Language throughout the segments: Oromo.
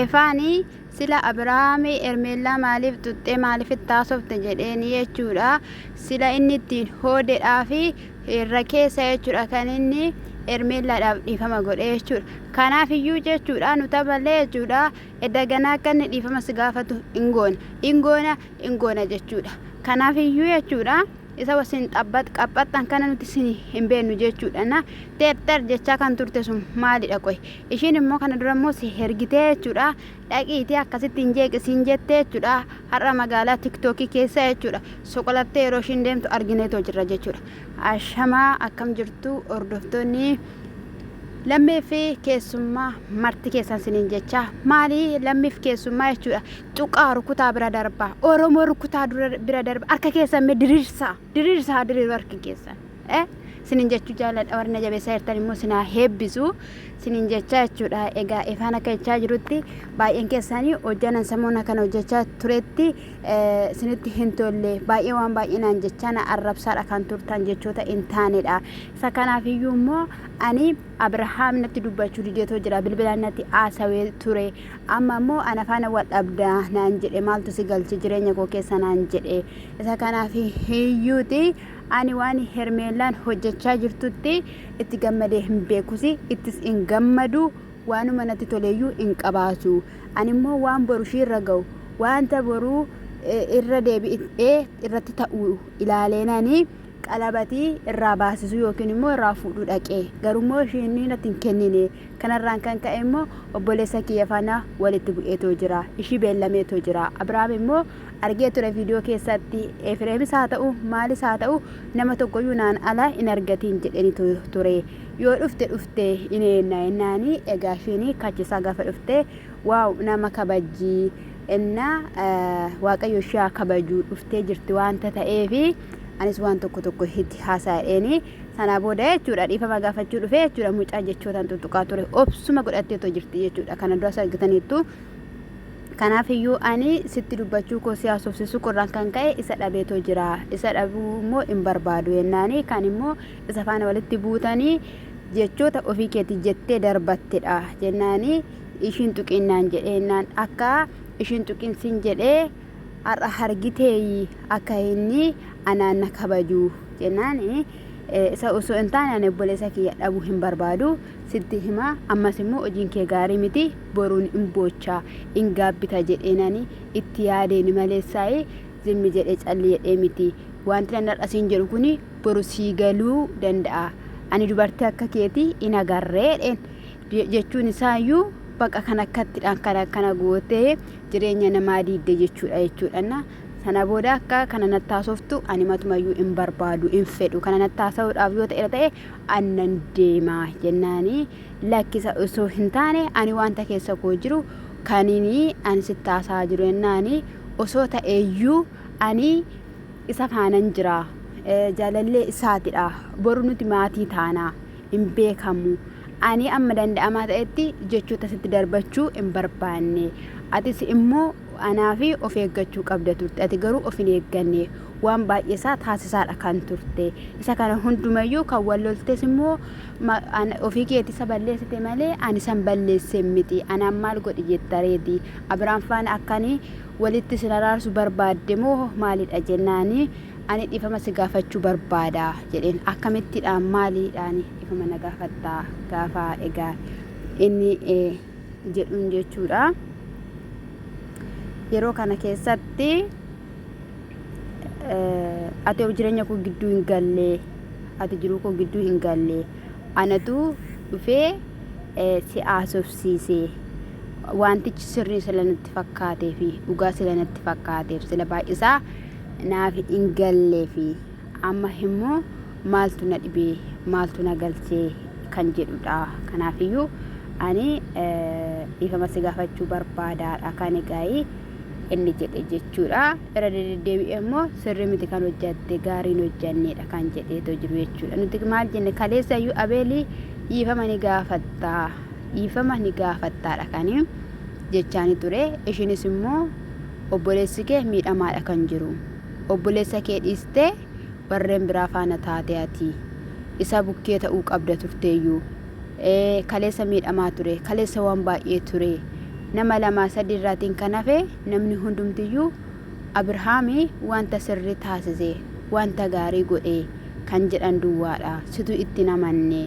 Efaani sila Abrahami Hermella maalif xuxxe maalif itti haasofte jedheeni jechuudha. Sila inni ittiin hoodedhaafi irra keessa jechuudha kan inni Hermellaadhaaf dhiifama godhe jechuudha. Kanaaf iyyuu jechuudha nu taballee jechuudha edda ganaa akka inni dhiifama si gaafatu hin goona. Hin goona hin goona jechuudha. Kanaaf iyyuu jechuudha. isa wasiin xabbax qaphhaxxan kana nuti sini hin beennu jeechuudha na teepter jechaa kan turte sun maalidha qoy ishiin immoo kana dura immoo si hergitee jechuudha dhaqiitii akkasitti hin jeeqi siin jettee jechuudha har'a magaalaa tiktookii keessa jechuudha soqolattee yeroo ishiin deemtu argineetoo jirra jechuudha ashamaa akkam jirtu hordoftoonni lammii fi keessummaa marti keessan siniin jechaa maalii lammiif keessummaa jechuudha Xuqaa rukutaa bira darbaa. Oromoo rukutaa dura- bira darbaa. Harka keessan mee diriirsaa. Diriirsaa haa diriiru harki keessan. Eh? Sinin jechuu jaalladha warri na jabeessaa jirtan immoo sinaa heebbisu. Sinin jechaa jechuudha. Egaa ifaan akka jechaa jirutti baay'een keessanii hojjanan samoona kana hojjechaa turetti eh, sinitti hin tolle. Baay'ee waan baay'ee naan jechaa na arrabsaadha kan turtan jechoota hin taanedha. Isa kanaaf iyyuu immoo ani Abirahaam natti dubbachuu dideetoo jira. Bilbilaan natti haasawee ture. Amma immoo ana faana wal dhabda naan jedhe maaltu si galche jireenya koo keessa naan jedhe isa kanaaf hiyyuuti ani waan hermeellaan hojjechaa jirtutti itti gammadee hin beekusi ittis hin gammadu waanuma natti toleeyyuu hin qabaatu ani immoo waan boru ishiirra ga'u wanta boruu eh, irra deebi'ee irratti ta'u ilaaleenani qalabatii irraa baasisuu yookiin immoo irraa fuudhuu dhaqe. Garuu immoo ishiin natti hin kennine. Kana irraan kan ka'e immoo obboleessa kiyya faana walitti bu'eetoo jira. Ishii beellameetoo jira. Abrahaam immoo argee ture viidiyoo keessatti Efireemis haa ta'u maalis haa ta'u nama tokkoyyuu naan ala hin argatiin jedheni ture. Yoo dhufte dhufte in eenna ennaani egaa ishiin kachisaa gaafa dhufte waaw nama kabajjii enna waaqayyo ishee haa kabajuu dhuftee jirti waanta ta'eefi. Anis waan tokko tokko itti haasa'eeni. Sanaa booda jechuudha dhiifama gaafachuu dhufee jechuudha mucaa jechootaan tuttuqaa ture. Obsuma godhattee otoo jirti jechuudha. Kana duras argitaniittu. Kanaaf iyyuu ani sitti dubbachuu koo si haasofsiisuu qorraan kan ka'e isa dhabeetoo jira. Isa dhabuu immoo hin barbaadu jennaani kan immoo isa faana walitti buutanii jechoota ofii keetii jettee darbattedha jennaani ishiin tuqinnaan jedhee innaan akka ishiin tuqin sin jedhee har'a hargiteeyyi akka inni anaan na kabaju jennaan isa osoo hin taane ani obboleessa kiyya dhabuu hin barbaadu sitti hima ammas immoo hojiin kee gaarii miti boruun hin boochaa hin gaabbita jedheenani itti yaadeeni maleessaa'ee zimmi jedhee calli jedhee miti wanti nan har'a siin jedhu kun boru sii galuu danda'a ani dubartii akka keetii hin agarreedheen jechuun isaa iyyuu baqa kan akkattidhaan kan akkana gootee jireenya namaa diidde jechuudha jechuudhanna sana booda akka kana nattaasoftu ani matumayyuu hin barbaadu hin fedhu kana nattaasa'uudhaaf yoo ta'e ta'e annan deemaa jennaanii lakkisa osoo hin taane ani wanta keessa koo jiru kaninii ani sittaasaa jiru jennaanii osoo ta'eeyyuu ani isa faanan jira jaalallee isaatidha boru nuti maatii taanaa hin beekamu. Ani amma danda'amaa ta'etti jechoota sitti darbachuu hin barbaanne. Atis immoo anaa fi of eeggachuu qabda turte. Ati garuu of hin eegganne. Waan baay'ee isaa taasisaadha kan turte. Isa kana hundumayyuu kan wal loltes immoo ma- an- ofii keetii isa balleessite malee ani san balleesse miti. Anaan maal godhi jetta reeti. Abiraam faana akkanii walitti isin araarsu barbaadde moo maalidha jennaani Ani dhifama si gaafachu barbaada jedheen akkamitti dha maali dhaani dhifama na gaafatta gaafa egaa inni jedhuun jechuudha yeroo kana keessatti ati of jireenya koo gidduu hin gallee ati jiruu koo gidduu hin gallee anatu dhufee si haasofsiisee wantichi sirrii sila natti fakkaatee fi dhugaa sila natti fakkaateef sila baay'isaa naaf hin galleefi. Amma immoo maaltu na dhibee maaltu na galchee kan jedhudha. Kanaafiyyuu ani dhiifama si gaafachuu barbaadaadha kan egaa'ii inni jedhe jechuudha. Irra deddeebi'ee immoo sirrii miti kan hojjatte gaariin hojjanneedha kan jedheetoo jiru jechuudha. Nuti maal jenne kaleessa iyyuu abeelii dhiifama ni gaafattaa dhiifama ni gaafattaadha kan jechaanii ture. Ishiinis immoo obboleessi kee miidhamaadha kan jiru. Obboleessa kee dhiistee warreen biraa faana taate ati. Isa bukkee ta'uu qabda turteeyyuu. Ee, kaleessa miidhamaa ture, kaleessa waan baay'ee ture. Nama lamaa sadii irraatiin kan hafe namni hundumtiyyuu Abirhaami wanta sirrii taasise, wanta gaarii godhe kan jedhan duwwaadha. Situ itti hin amanne.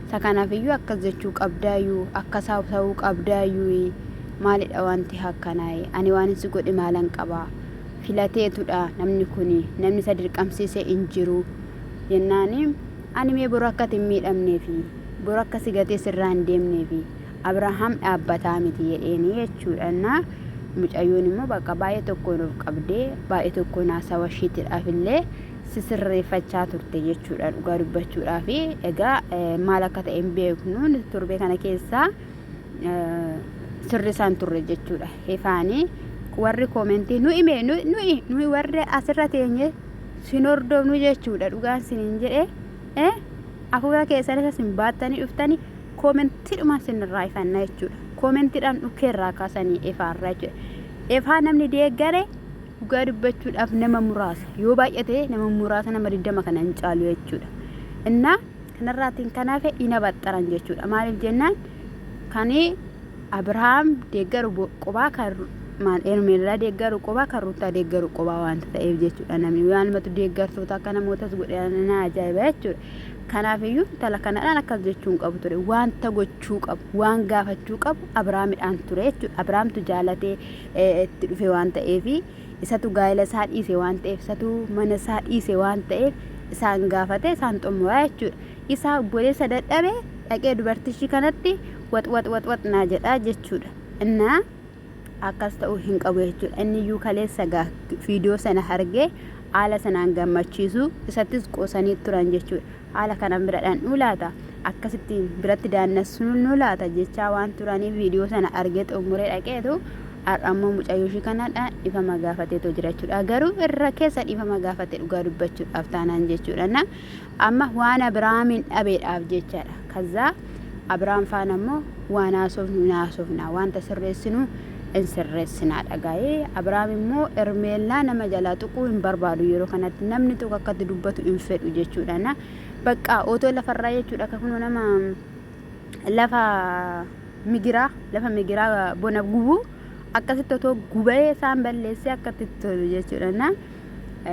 Isa kanafiyyuu akkas jechuu qabdaayuu akkas haasawuu qabdaayuuyi maalidha wanti hakkanaayi ani waanin si godhe maalan qaba filateetudha namni kuni namni isa dirqamsiise hin jiru jennaani ani mee boru akka ati hin miidhamneefi boru akka si gatee sirraa hin deemneefi Abrahaam dhaabbataa miti jedheeni jechuudha innaa mucayyoon immoo bakka baay'ee tokkoon of qabdee baay'ee tokkoon haasawa ishiitidhaaf illee sisirreeffachaa turte jechuudha dhugaa dubbachuudhaa fi egaa maal akka ta'e hin beeknu nuti torbee kana keessaa sirrisaan turre jechuudha hefaanii warri koomentii nu hime nuyi nuyi warri asirra teenye sin hordofnu jechuudha dhugaan sinin jedhe eh afuura keessan isa sin baattanii dhuftanii koomentiidhuma sinirraa ifanna jechuudha koomentiidhaan dhukkee irraa kaasanii efaarra jechuudha efaa namni deeggare Dhugaa dubbachuudhaaf nama muraasa yoo baay'ate nama muraasa nama 20 kana hin caalu jechuudha. Innaa kanarraatiin kan hafe hin abaxxaran jechuudha. Maaliif jennaan kan Abirahaam deeggaru bo- qobaa kan Ru- maal Hermeellaa deeggaru qobaa kan Ruuttaa deeggaru qobaa waanta ta'eef jechuudha namni maalumatu deeggartoota akka namootas godhe na ajaa'iba jechuudha. Kanaafiyyuu intala kanadhaan akkas jechuu hin qabu ture waanta gochuu qabu waan gaafachuu qabu Abiraamidhaan ture jechuudha. Abiraamtu jaalatee itti dhufe waan ta'eef isatu gaa'ela isaa dhiise waan ta'eef isatu mana isaa dhiise waan ta'eef isaan gaafate isaan xumuraa jechuudha. Isaa obboleessa dadhabe dhaqee dubartichi kanatti wax wax wax wax naa jedhaa jechuudha. Innaa akkas ta'uu hin qabu jechuudha. Inni iyyuu kaleessa gaa viidiyoo sana argee haala sanaan gammachiisu isattis qoosanii turan jechuudha. haala kanaan bira dhandhuu laata akkasitti biratti daannassuun laata jechaa waan turaniif viidiyoo sana argee xumuree dhaqeetu har'a ammoo mucayyoo ishii kanadha dhifama gaafateetoo jira jechuudha garuu irra keessa dhifama gaafate dhugaa dubbachuudhaaf taanaan jechuudha amma waan abiraamiin dhabeedhaaf jechaadha kazzaa Abiraam faana immoo waan haasofnu hin haasofna, wanta sirreessinu hin sirreessina dhagaa'ee. Abiraam immoo Hermeellaa nama jalaa tuquu hin barbaadu yeroo kanatti namni tokko akkatti dubbatu hin fedhu jechuudha. Na baqqaa otoo lafarraa jechuudha akka kunoo nama lafa migiraa lafa migiraa bona gubuu akkasitti otoo gubee isaan balleessee akkatti tolu jechuudha. Na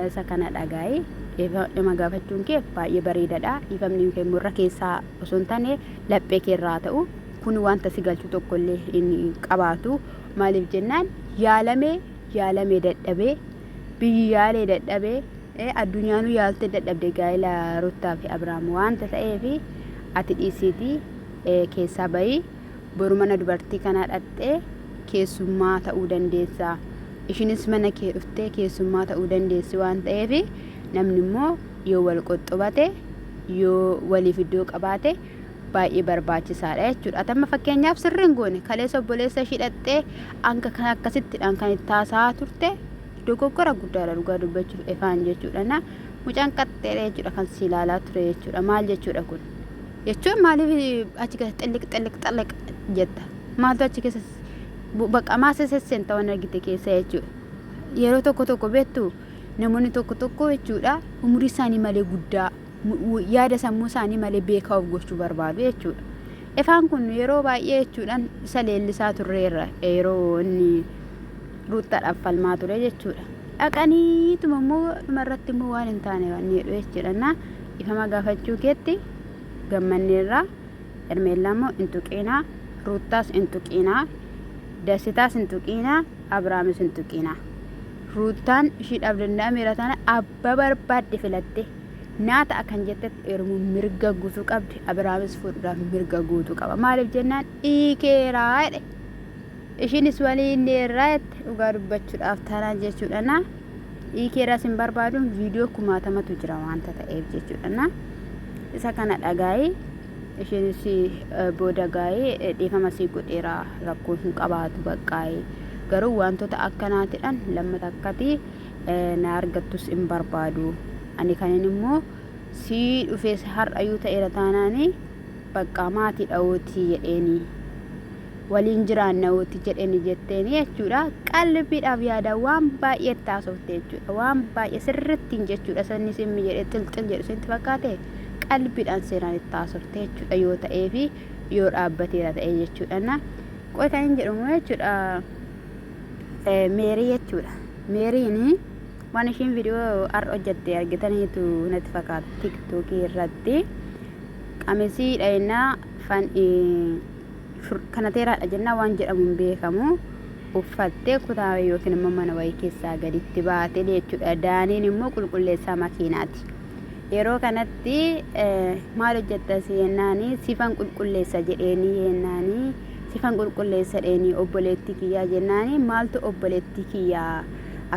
Isa kana dhagaa'i. Dhiifama gaafachuun kee baay'ee bareedadha. Dhiifamni kee immoo irra keessaa osoo hin taane laphee kee irraa haa ta'u. Kun wanta si galchu tokko illee hin qabaatu. Maaliif jennaan yaalamee yaalamee dadhabee biyyi yaalee dadhabee eh, addunyaanuu yaaltee dadhabde gaa'ila Ruttaa fi Abiraam wanta ta'eef ati dhiisiitii eh, keessaa bahii. boru mana dubartii kanaa dhaqxee keessummaa ta'uu dandeessa. Ishinis mana kee dhuftee keessummaa ta'uu dandeessi waan ta'eef namni immoo yoo wal qoxxobate yoo waliif iddoo qabaate baay'ee barbaachisaadha jechuudha. Atamma fakkeenyaaf sirriin goone kaleessa obboleessa ishii dhaqxee hanga kan akkasittidhaan kan itti haasa'aa turte dogoggora guddaadha dhugaa dubbachuuf efaan jechuudha. Na mucaan qaxxeedha jechuudha kan si ilaalaa ture jechuudha. Maal jechuudha kun? jechuun maaliif achi keessa xilliq xilliq xilliq jetta maaltu achi keessa bakka maasa sesseenta waan argite keessa jechuudha. Yeroo tokko tokko beektu namoonni tokko tokko jechuudha umurii isaanii malee guddaa yaada sammuu isaanii malee beekaa of gochuu barbaadu jechuudha. Ifaan kun yeroo baay'ee jechuudhaan isa leellisaa turreerra yeroo inni ruuttaadhaaf falmaa ture jechuudha. Dhaqaniituma immoo dhumarratti immoo waan hin taane waan jedhu jechuudha. Dhiifama gaafachuu keetti gammanneerra Hermeellaa immoo hin tuqiinaa Ruuttaas hin tuqiinaa Dasitaas hin tuqiinaa Abraamis hin tuqiinaa Ruuttaan ishiidhaaf danda'ameera tana abba barbaadde filatte naa ta'a kan jettetti heerumu mirga guutuu qabdi Abraamis fuudhuudhaaf mirga guutuu qaba maaliif jennaan dhiikeeraa jedhe Ishiinis wani inni irraa jette dhugaa dubbachudhaaf tana jechuudhana dhiikee irraas hin barbaaduun viidiyoo kumaatamatu jira wanta ta'eef jechuudhana isa kana dhagaayi ishiinis booda gaa'ee dhiifama sii godheera rakkoo hin qabaatu baqqaayi garuu wantoota akkanaatidhan lamma takkati na argattus hin barbaadu ani kanin immoo sii dhufees har'ayyuu ta'eera taanaani baqqaa maatii dha'ootii jedheeni waliin jiraanna uti jedheni jetteeni jechuudha. Qalbiidhaaf yaada waan baay'ee itti haasofte jechuudha. Waan baay'ee sirrittiin jechuudha. Sanni simmi jedhee xilxil jedhu sinti fakkaate qalbiidhaan seenaan itti haasofte jechuudha yoo ta'ee fi yoo dhaabbateera ta'ee jechuudha. Na qoy kan hin jedhamu jechuudha. Meerii jechuudha. Meeriin waan ishiin viidiyoo har'a hojjette argitaniitu natti fakkaata tiktookii irratti qamisii dhayinaa fan kanateeraadha jennaa waan jedhamu hin beekamu uffattee kutaa yookiin immoo mana wayii keessaa gaditti baate jechuudha. Daaniin immoo qulqulleessaa makiinaati. Yeroo kanatti maal hojjetta seennaani sifan qulqulleessa jedheeni yeennaani sifan qulqulleessa dheeni obboleettii kiyyaa jennaani maaltu obboleettii kiyyaa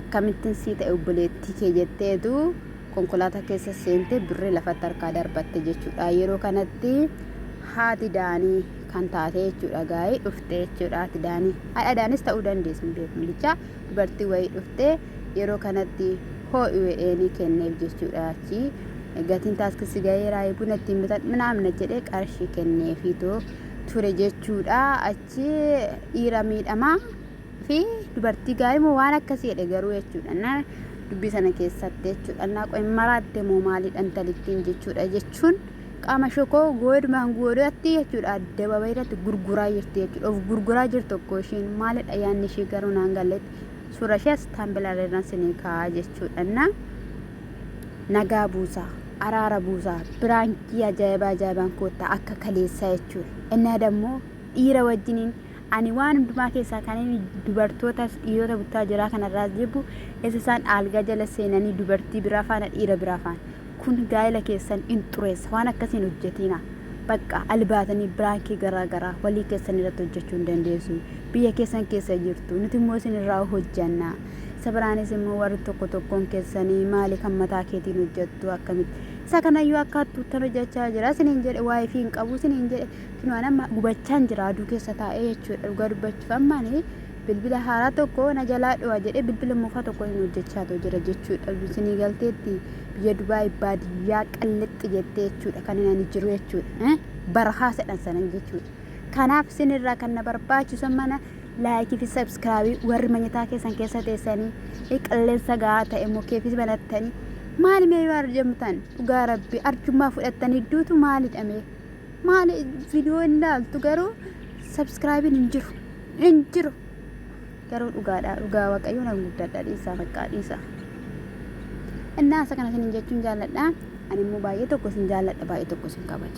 akkamittiin sii ta'e obboleettii kee jetteetu konkolaataa keessa seentee birrii lafatti harkaa darbatte jechuudha. Yeroo kanatti haati daanii kan taate jechuudha gaa'ii dhufte jechuudha haati daanii. Haadha daanis ta'uu dandeessu hin beeku bichaa dubartii wayii dhufte yeroo kanatti hoo'i we'eenii kenneef jechuudha achi gatiin taaskisi gaheeraa buna ittiin bitan minaamna jedhee qarshii kenneefiitoo ture jechuudha achi dhiira miidhamaa. fi dubartii gaarii moo waan akkasii jedhe garuu jechuudha na dubbii sana keessatti jechuudha na qoy maraatte moo maaliidha intalittiin jechuudha jechuun qaama shokoo goodmaan goodatti jechuudha addababa irratti gurguraa jirti jechuudha of gurguraa jirti tokko ishiin maalidha yaanni ishii garuu naan galletti suura ishee asitaan bilaalerraan sinii kaa'aa jechuudha na nagaa buusaa araara buusaa biraankii ajaa'ibaa ajaa'ibaan koottaa akka kaleessaa jechuudha innaa dammoo dhiira wajjiniin Ani waan hundumaa keessaa kan inni dubartootas dhiirota buttaa jiraa kanarraas jibbu isa isaan aalgaa jala seenanii dubartii biraa faana dhiira biraa faana. Kun gaa'ila keessan in xureessa waan akkasii hin hojjetiina. Baqqa albaatanii biraankii garaa garaa walii keessan irratti hojjechuu hin dandeessu. Biyya keessan keessa jirtu nuti immoo isin irraa hojjanna. Isa biraanis immoo warri tokko tokkoon keessanii maali kan mataa keetiin hojjettu akkamitti. Isa kanayyuu akka hattuuttan hojjechaa jira isiniin jedhe waa'ee fi hin qabu isiniin jedhe Kunoo an amma gubachaan jira aduu keessa taa'ee jechuudha dhugaa dubbachuuf amma ani bilbila haaraa tokko na jalaa dhuwa jedhee bilbila moofaa tokko hin hojjechaa too jira jechuudha isinii galteetti biyya Dubaay baadiyyaa qallixxi jettee jechuudha kan hin ani jiru jechuudha eh? barahaa sedhan sanan jechuudha kanaaf isin irraa kan na barbaachisu mana laayikii fi sabskraabii warri manyataa keessan keessa teessanii eh, qilleensa gahaa ta'e mukeefis banattanii maali mee yoo arjamtan dhugaa rabbi arjummaa fudhattanii duutu maalidha mee Maali video hin laaltu garuu subscribein hin jiru. Hin jiru. Garuu dhugaadha. Dhugaa Waaqayyoo nan guddadha dhiisaa baqqaa dhiisaa. Innaa isa kana isin jechuun jaalladha. Ani immoo baay'ee tokko isin jaalladha baay'ee tokko isin kabaja.